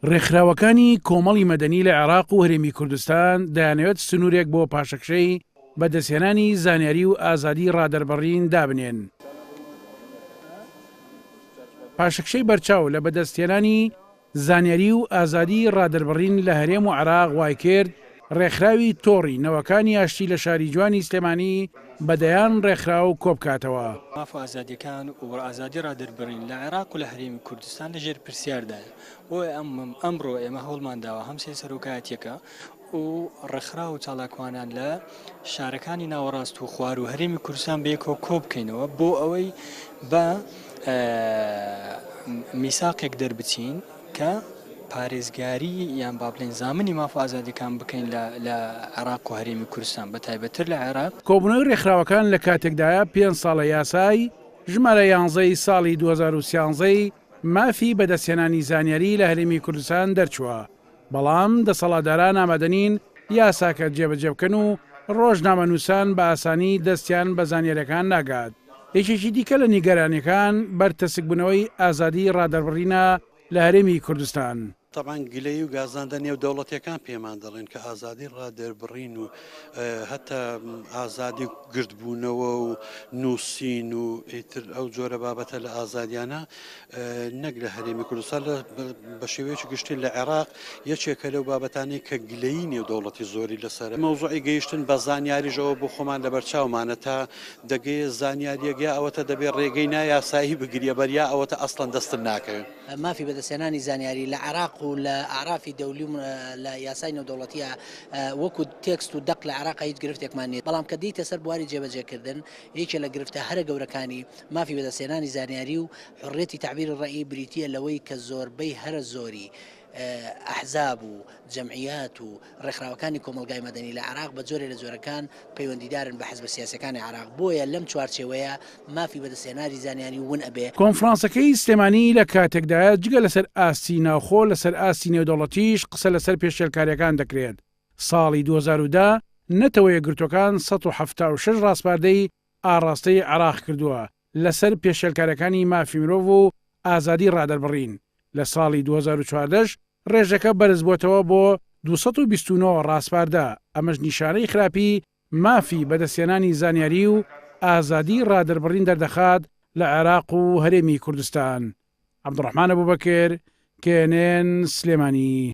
ڕێکخراوەکانی کۆمەڵی مەدەنی لە عێراق و هەرێمی کوردستان دەیانەوێت سنوورێک بۆ پاشەکشەی بەدەستهێنانی زانیاری و ئازادی ڕادەربڕین دابنێن. پاشەکشەی بەرچاو لە بەدەستهێنانی زانیاری و ئازادی ڕادەربڕین لە هەرێم و عێراق وایکرد، ڕێکخراوی تۆڕی نەوەکانی ئاشتی لە شاری جوانی سلێمانی بە دەیان ڕێکخراو کۆبکاتەوە. ماف و ئازادیەکان و ئازادی ڕادەربڕین لە عێراق و لە هەرێمی کوردستان لە ژێر پرسیاردایە، بۆیە ئەمڕۆ ئێمە هەوڵمان داوە هەم سێ سەرۆکایەتیەکە و ڕێکخراو و چالاکوانان لە شارەکانی ناوەڕاست و خواروو هەرێمی کوردستان بەیەکەوە کۆبکەینەوە بۆ ئەوەی بە میساقێک دەربچین، کە پارێزگاری یان با بڵێین زامنی ماف و ئازادیەکان بکەین لە لە عێراق و هەرێمی کوردستان بە تایبەت تر لە عێراق. کۆبوونەوەی رێکخراوەکان لە کاتێکدایە پێنج ساڵە یاسای ژمارە یانزە ی ساڵی دوو هەزار و سیانزە ی مافی بەدەستهێنانی زانیاری لە هەرێمی کوردستان دەرچووە بەڵام دەسەڵاتداران ئامادەنین یاساکە جێبەجێبکەن و رۆژنامەنووسان بە ئاسانی دەستیان بە زانیاریەکان ناگات. یەکێکی دیکە لە نیگەرانیەکان بەرتەسکبونەوەی ئازادی ڕادەربڕینە لە هەرێمی کوردستان. تەبعەن گلەیی و گازاندە نێودەوڵەتیەکان پێمان دەڵێن کە ئازادی ڕادەربڕین و هەتا ئازادی گردبونەوە و نوسین و ئیتر ئەو جۆرە بابەتە لە ئازادیانە نەک لە هەرێمی کوردستان لە بە شێوەیەکی گشتی لە عێراق یەکێکە لەو بابەتانی کە گلەیی نێودەوڵەتی زۆری لەسەر مەوزوعی گەیشتن بە زانیاریشەوە بۆ خۆمان لە بەرچاومانە تا دەگەی زانیاریەکە ئەوەتە دەبێت ڕێگەی نایاسایی بگریە بەریا ئەوەتە ئەسڵەن دەستن ناکەوێت مافی بەدەستێنانی زانیاری لە عراق و لە عرافی دەولی لە یاسای نێودەوڵەتیە وەکو تێکست و دەق لە عراق هیچ گرفتێکمان نیە بەڵام کە دیتە سەر بواری جێبەجێکردن یەکێ لە گرفتە هەرە گەورەکانی مافی بەدەستهێنانی زانیاری و حوڕیەتی تەعبیری ڕەئی بریتییە لەوەی کە زۆربەی هەرە زۆری ئەحزاب و جەمعیات و ڕێکخراوەکانی کۆمەڵگای مەدەنی لە عێراق بە جۆرێ لە جۆرەکان پەیوەندیدارن بە حزبە سیاسیەکانی عێراق بۆیە لەم چوارچێوەیە مافی بەدەستهێناری زانیاری ون ئەبێ کۆنفرانسەکەی سلێمانی لە کاتێکدایە جگە لەسەر ئاستی ناوخۆ لەسەر ئاستی نێودەوڵەتیش قسە لەسەر پێشێلکاریەکان دەکرێت ساڵی دوو هەزار و دە نەتەوە یەکگرتووەکان سەد و حەفتا و شەش ڕاسپاردەی ئاڕاستەی عێراق کردووە لەسەر پێشێلکاریەکانی مافی مرۆڤ و ئازادی ڕادەربڕین، لە ساڵی دوو هەزار و چواردە ش ڕێژەکە بەرزبووەتەوە بۆ دوو سەد و بیست و نۆ ڕاسپاردە، ئەمەش نیشانەی خراپی مافی بەدەستهێنانی زانیاری و ئازادی ڕادەربڕین دەردەخات لە عێراق و هەرێمی کوردستان. عەبدوڕەحمان ئەبوبەکر، KNN، سلێمانی.